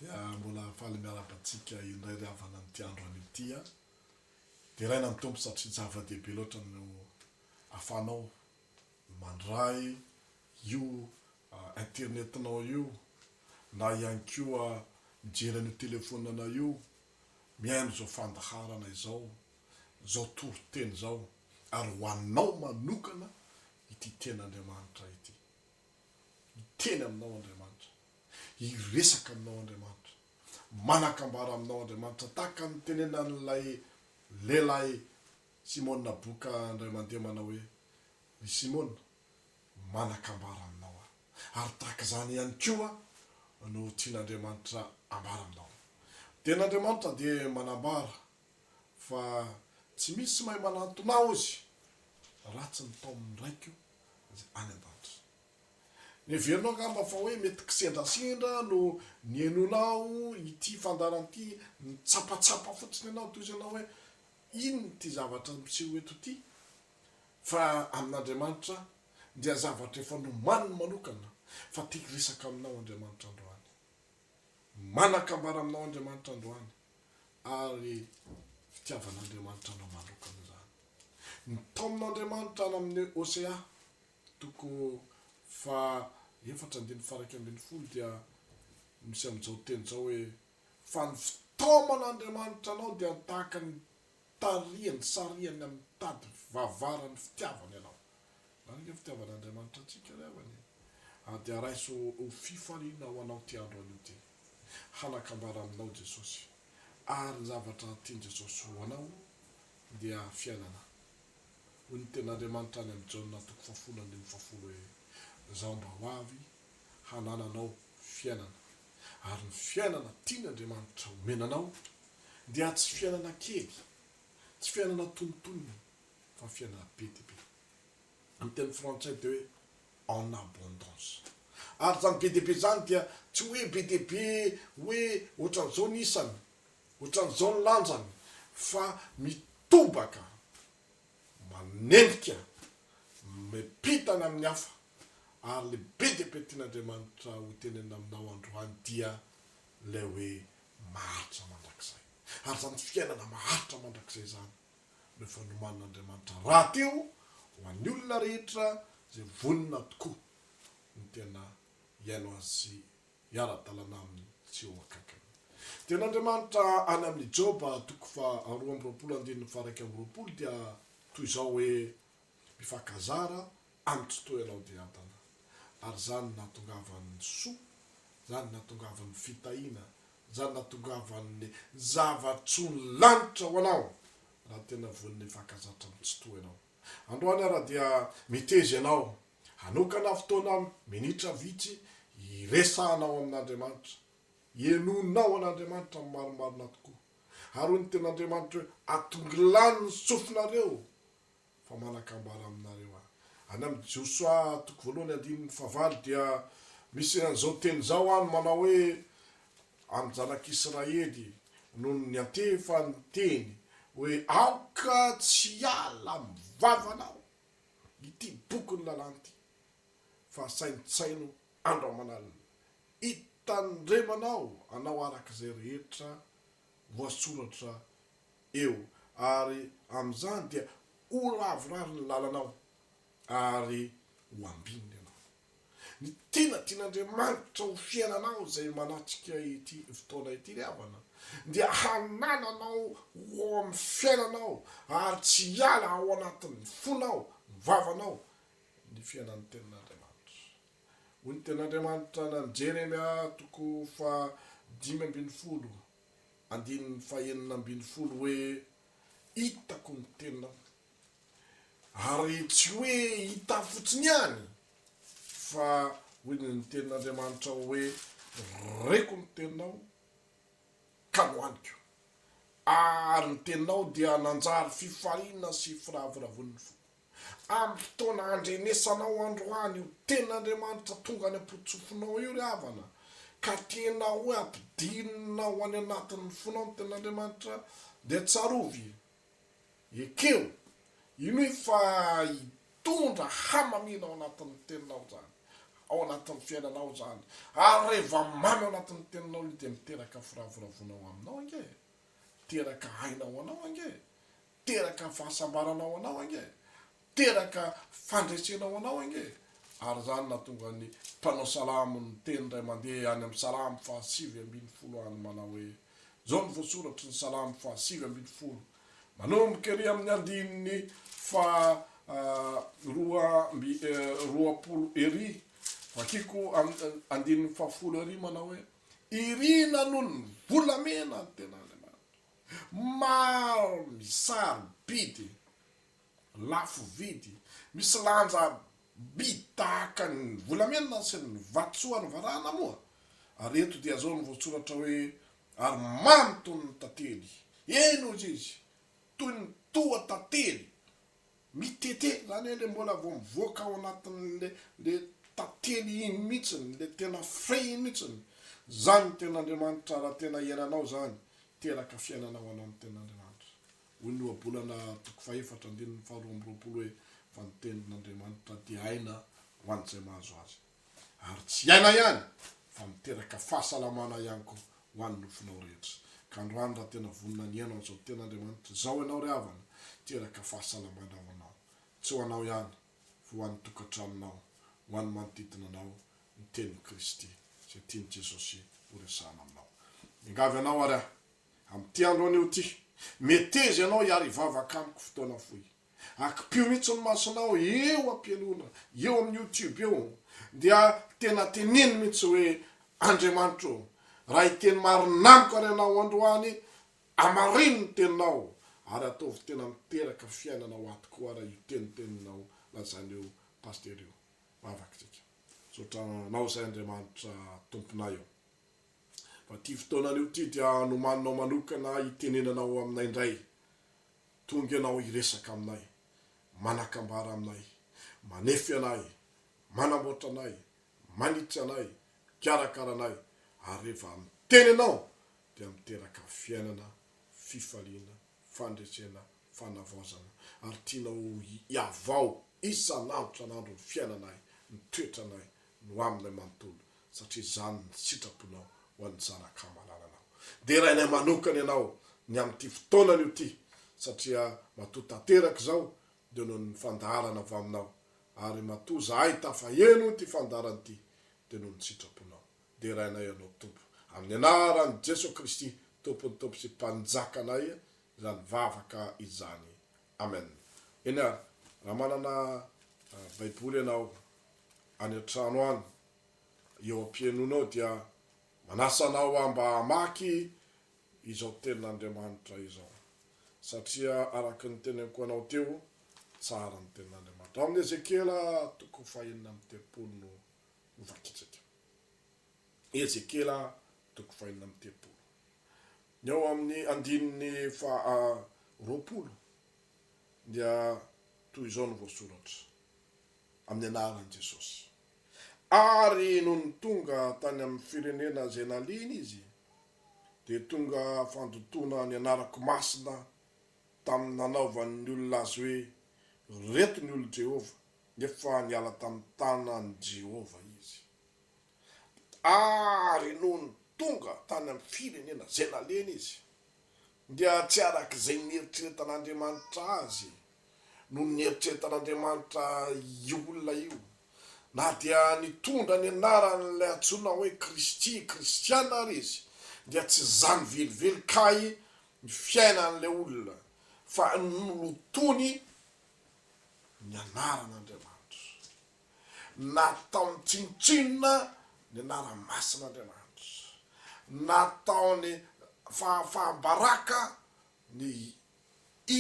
Dia mbola faly miarahaba antsika indray ry havana amin'ity andro anio ity an! Deraina ny Tompo satria zava-dehibe loatra no ahafahanao mandray io internetinao io, na ihany koa mijery an'io telefonanao io, mihaino izao fandaharana izao, izao toriteny izao, ary ho anao manokana ity Tenin'Andriamanitra ity. Hiteny aminao Andriamanitra. Hiresaka aminao Andriamanitra. Manan-kambara aminao Andriamanitra, tahaka ny nitenenan'ilay lehilahy Simona Boka indray mandeha manao hoe, Ry Simona, Manan-kambara aminao aho, ary tahaka izany ihany koa no tian'Andriamanitra ambara aminao. Dia n'Andriamanitra dia manambara fa tsy misy tsy mahay manantona aho Izy raha tsy ny taomin'ny Raiko izay any an-danitra. Heverinao angamba fa hoe mety kisendrasendra no nihainoanao ity fandaharana ity, nitsapatsapa fotsiny ianao toy izay ianao hoe, Inona ity zavatra miseho eto ity? Fa amin'Andriamanitra dia zavatra efa nomaniny manokana fa te hiresaka aminao Andriamanitra androany. Manan-kambara aminao Andriamanitra androany ary fitiavan'Andriamanitra anao manokana izany. Ny taomin'Andriamanitra any amin'ny Hosea toko fahaefatra andininy faharaika ambin'ny folo dia misy amin'izao teny izao hoe, Fa ny fitaoman'Andriamanitra anao dia tahaka ny Tarihany, sarihany amin'ny tady vavaran'ny fitiavana ianao. Marina ny fitiavan'Andriamanitra antsika ry havana e! ary dia raiso ho fifaliana ho anao ity andro anio ity. Hanakambara aminao Jesosy, ary ny zavatra tian'i Jesosy ho anao dia fiainana. Hoy ny Tenin'Andriamanitra any amin'ny Jaona toko fahafolo andininy fahafolo hoe, Izaho mba ho avy hanananao fiainana. ary ny fiainana tian'Andriamanitra omena anao dia tsy fiainana kely, tsy fiainana antonontonony fa fiainana be dia be. Ny teny frantsay dia hoe en abondance. Ary izany be dia be izany dia tsy hoe be dia be hoe ohatran'izao ny isany, ohatran'izao ny lanjany fa mitobaka. manenjika, mipitana amin'ny hafa, ary le be dia be tian'Andriamanitra ho tenenina aminao androany dia ilay hoe maharitra mandrakizay. Ary izany fiainana maharitra mandrakizay izany no efa nomanin'Andriamanitra rahateo ho an'ny olona rehetra izay vonona tokoa ny tena hiaino Azy miara-dalana aminy tsy eo akaikiny. Dia an'Andriamanitra any amin'ny Joba toko faha roa amby roapolo andininy faha iraika amby roapolo dia toy izao hoe, Mifankazara amin'ny tsy toa ianao dia adana, ary izany nahatongavan'ny soa, izany nahatongavan'ny fitahiana, izany nahatongavan'ny zava-tsoan'ny lanitra ho anao raha tena vonona hifankazatra amin'ny tsy toa ianao. Androany ara dia miteza ianao Hanokana fotoana minitra vitsy hiresahanao amin'Andriamanitra. Henoinao an'Andriamanitra amin'ny marimarina tokoa. Haroy ny Tenin'Andriamanitra hoe, Atongilano ny sofinareo, fa manan-kambara aminareo Aho. Any amin'ny Josoa toko voalohany andininy fahavalo dia misy an'izao teny izao any manao hoe, Amin'ny zanak'Israely no niantefa ny teny hoe, Aoka tsy hiala amin'ny vavanao. ity bokin'ny lalàna ity fa saintsaino andro aman'alina hitandremanao anao araka izay rehetra voasoratra eo ary amin'izany dia ho ravorary ny lalanao ary ho ambinina ianao. Ny tena tian'Andriamanitra ho fiainanao izay manatrika ity fotoana ity ry havana dia hanananao ho ao amin'ny fiainanao ary tsy hiala ao anatin'ny fonao, ny vavanao, ny fiainan'ny tenin'Andriamanitra. Hoy ny tenin'Andriamanitra any amin'ny Jeremia toko fahadimy ambin'ny folo andininy fahenina ambin'ny folo hoe, Hitako ny tenanao. Ary tsy hoe hita fotsiny ihany, fa hoy ny tenin'Andriamanitra hoe, Reko ny teninao ka nohaniko, ary ny teninao dia nanjary fifaliana sy firavoravoan'ny foko. Amin'ny fotoana handrenesanao androany io tenin'Andriamanitra tonga any am-potsofinao io ry havana, ka tena hoe ampidirinao any anatin'ny fonao ny tenin'Andriamanitra, dia tsarovy Ekeo, inoy fa hitondra hamamiana ao anatin'ny teninao izany, ao anatin'ny fiainanao izany, ary reva mamy ao anatin'ny teninao io dia miteraka firavoravoana ao aminao ange e, miteraka aina ho anao ange e, miteraka fahasambarana ho anao ange e, teraka fandresena ho anao ange ary izany nahatonga ny mpanao salamo niteny indray mandeha any amin'ny salamo fahasivy ambin'ny folo any manao hoe, Izao no voasoratry ny salamo fahasivy ambin'ny folo manomboka ery amin'ny andininy faha roa amby roapolo ery, vakiko amin'ny andininy fahafolo ery manao hoe, Irina noho ny volamena ny ten'Andriamanitra, maro ny saro-bidy lafo vidy, misy lanja by tahaka ny volamena sy ny vatosoa any varahana moa ary eto dia zao ny voatsoratra hoe ary mamy toy ny tantely, eny hozy izy, toy ny toa tantely, mitete zany hoe le mbola vao mivoaka ao anatin'le le tantely iny mihitsiny, le tena frais iny mihitsiny, zany ny tenin'Andriamanitra raha tena iainanao zany, teraka fiainana ho anao ny tenin'Andriamanitra. Hoy ny Ohabolana toko fahefatra andininy faharoa amby roapolo hoe, Fa ny tenin'Andriamanitra dia aina ho an'izay mahazo azy, ary tsy aina ihany fa miteraka fahasalamana ihany koa ho an'ny nofonao rehetra. Ka androany raha tena vonona ny hihaino an'izao tenin'Andriamanitra izao ianao ry havana, hiteraka fahasalamana ho anao. Tsy ho anao ihany fa ho an'ny tokantranonao, ho an'ny manodidina anao ny tenin'i Kristy izay tian'i Jesosy horesahana aminao. Miangavy anao ary aho Amin'ity andro anio ity, meteza ianao hiary hivavaka amiko fotoana fohy. Akipio mihitsy ny masonao eo am-pialona, eo amin'ny youtube eo, dia tena teneno mihitsy hoe, Andriamanitra ô, raha hiteny marina amiko ary ianao androany, amarino ny teninao ary ataovy tena miteraka fiainana ho ahy tokoa ary io teniteninao lazain'io pasitera io. Vavaka isika. Misaotra anao izay Andriamanitra Tomponay ô. Fa ity fotoanana io ity dia nomaninao manokana hitenenana ao aminay indray. Tonga ianao hiresaka aminay, manakambara aminay, manefy anay, manamboatra anay, manitsy anay, mikarakara anay, ary rehefa miteny ianao dia miteraka fiainana, fifaliana, fandresena, fanavaozana, ary tianao hihavao isan'andro isan'andro ny fiainanay, ny toetranay, no aminay manontolo satria izany ny sitraponao ho an'ny zanak'Amalalanao. Derainay manokana ianao ny amin'ity fotoana anio ity satria matoa tanteraka izao dia noho ny fandaharana avy aminao ary matoa zahay tafaheno ity fandaharana ity dia noho ny sitraponao. Derainay ianao Tompo amin'ny anaran'i Jesoa Kristy Tompon'ny Tompo sy Mpanjakanay izany vavaka izany. Amen eny ary raha manana baiboly ianao any an-trano any eo am-pihainoanao dia manasa anao aho mba hamaky izao tenin'Andriamanitra izao satria araka ny teneniko anao teo tsara ny tenin'Andriamanitra ao amin'ny Ezekiela toko fahenina amby telopolo no hovakitsika. Ezekiela toko fahenina amby telopolo, ny ao amin'ny andininy faha roapolo dia toy izao no voasoratra amin'ny anaran'i Jesosy, Ary nony tonga tany amin'ny firenena izay naliny izy, dia tonga fandotoana ny anarako masina tamin'ny nanaovany ny olona azy hoe, Ireto ny olon'i Jehovah, nefa niala tamin'ny tanan'i Jehovah izy. Ary nony tonga tany amin'ny firenena izay nalehany izy, dia tsy araka izay nieritreretan'Andriamanitra azy no nieritreretan'Andriamanitra io olona io, na dia nitondra ny anaran'ilay antsoina hoe Kristy, kristiana, ary izy, dia tsy izany velively kay ny fiainan'ilay olona, fa nolotoiny ny anaran'Andriamanitra. Nataony tsinontsinona ny anarany masina Andriamanitra. Nataony fahafaham-baraka ny izy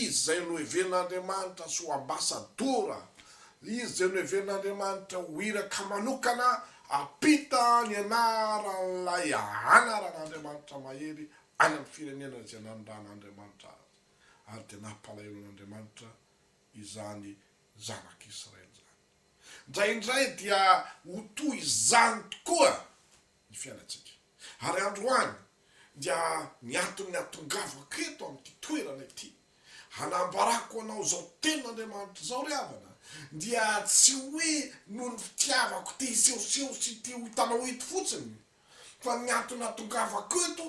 izay nohevenin'Andriamanitra sy ho ambasadora, izy izay nohevenin'Andriamanitra ho iraka manokana hampita ny anaran'ilay anaran'Andriamanitra mahery any amin'ny firenena izay nanondran'Andriamanitra azy. Ary dia nampalahelo an'Andriamanitra izany zanak'Israely izany. Indraindray dia ho toy izany tokoa ny fiainantsika. Ary androany dia ny anton'ny hatongavako eto amin'ity toerana ity hanambarako anao izao tenin'Andriamanitra izao ry havana dia tsy hoe noho ny fitiavako te hisehoseho sy te ho hitanao eto fotsiny, Fa ny antony atongavako eto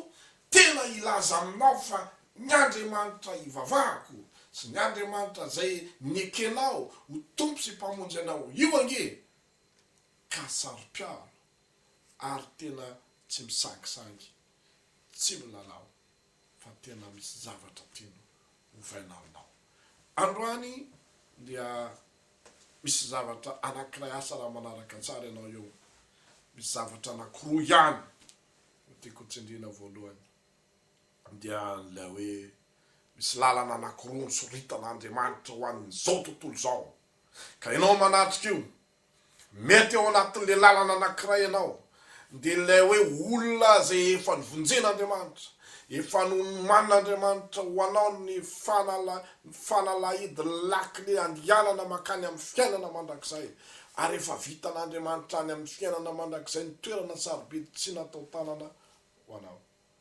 tena hilaza aminao fa ny Andriamanitra ivavahako sy ny Andriamanitra izay nekenao ho Tompo sy Mpamonjy anao io ange ka saro-piaro ary tena tsy misangisangy, tsy milalao. fa tena misy zavatra tiany hovaina aminao. Androany dia misy zavatra anankiray asa raha manaraka tsara ianao eo, misy zavatra anankiroa ihany no tiako ho tsindriana voalohany dia ilay hoe misy lalana anankiroa nosoritana Andriamanitra ho an'izao tontolo izao ka ianao manatrika io Mety ao anatin'ilay lalana anankiray ianao, dia ilay hoe olona izay efa novonjen'Andriamanitra, efa nomanin'Andriamanitra ho anao ny fanala, ny fanalahidy, ny lakile handianana mankany amin'ny fiainana mandrakizay, ary efa vitan'Andriamanitra any amin'ny fiainana mandrakizay ny toerana sarobidy tsy natao tanana ho anao.